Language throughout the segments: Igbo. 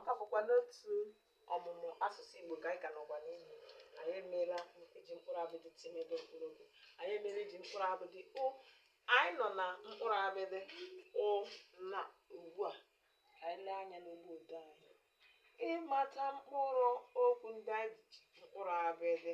Ọ bụkwa n'otu ọmụmụ asụsụ Igbo ka anyị ka nọkwa n'ime anyị emeela iji mkpụrụ abịdị tị mebe mkpụrụ okwu anyị emeela iji mkpụrụ abịdị u anyị nọ na mkpụrụ abịdị ụ na ugbu a ka anyị lee anya n'ụgbọ odee anyị ịmata mkpụrụ okwu ndị anyị ji mkpụrụ abịdị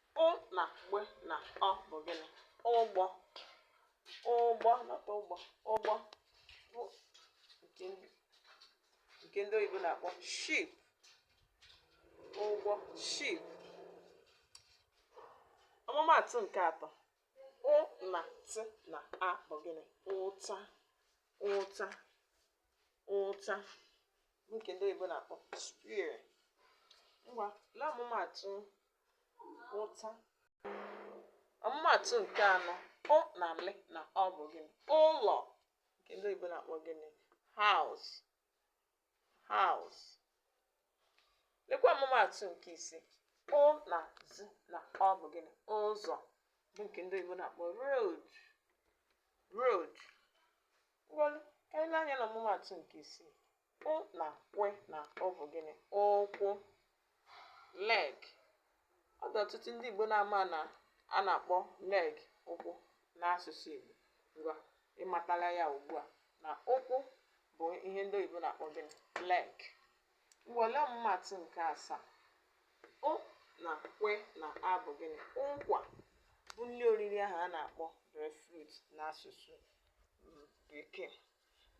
Ụ na gbe na ọ bụ gịnị? Ụgbọ. Ụgbọ not ugbo. Ụgbọ bụ nke ndị oyibo na-akpọ ship. Ụgbọ ship. Ọmụmaatụ nke atọ. Ụ na tị na a bụ gịnị? Ụta. Ụta. Ụta bụ nke ndị oyibo na-akpọ spear. Ngwa lee ọmụmaatụ ụta ọmụmaatụ nke anọ ụ na le na ọ bụ gịnị ụlọ nke ndị oyibo na-akpọ gịnị house house lekwa ọmụmaatụ nke ise ụ na zi na ọ bụ gịnị ụzọ bụ nke ndị oyibo na-akpọ road road ngwanụ ka anyị lee anya na ọmụmaatụ nke isii Ụ na kwe na ụ bụ gịnị? Ụkwụ, leg. Ọ dị ọtụtụ ndị Igbo na-ama na a na-akpọ leg ụkwụ n'asụsụ Igbo. Ngwa, ị matala ya ugbu a na ụkwụ bụ ihe ndị oyibo na-akpọ gịnị? Leg. Ngwa, lee ọmụmaatụ nke asaa? Ụ na kwe na a bụ gịnị? Ụkwa bụ nri oriri ahụ a na-akpọ breadfruit n'asụsụ Bekee.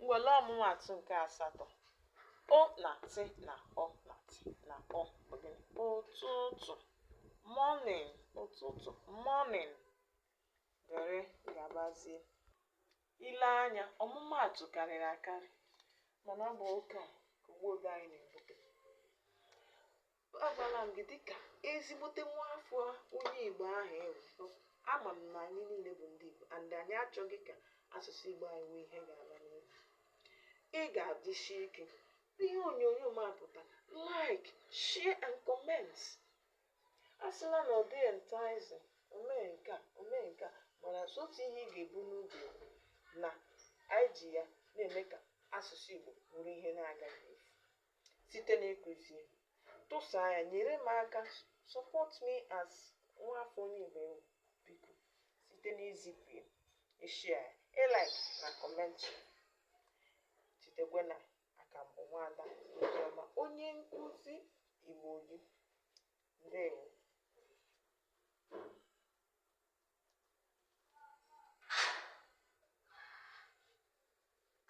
Ngwa lee ọmụmaatụ nke asatọ ụ na tị na ụ na tị na ụ bụ gịnị ụtụtụ morning ụtụtụ morning dịrị gabazie ị lee anya ọmụmaatụ karịrị akarị mana ọ bụ ụka ka ụgbọ odee anyị na-ebute agwala m gị dịka ezigbote nwa afọ onye igbo ahụ ị wụ ama m na anyị niile bụ ndị igbo and anyị achọghị ka asụsụ igbo anyị nwee ihe ga-ala n'iyi ị ga-adịsi ike ihe onyonyo m apụta like share and comment asịla na ọ dịghị enticing o mee nke a o mee nke a mana otu ihe ị ga-ebu n'obi na anyị ji ya na-eme ka asụsụ igbo bụrụ ihe na-agaghị efu site n'ịkụzi ya tụsaa ya nyere m aka support me as nwa afọ onye Igbo ị wụ biko site n'izipụ ya ịshare ya ịlike na comment chetakwa na aka m bụ nwada Oziọma onye nkụzi Igbo gị ndewo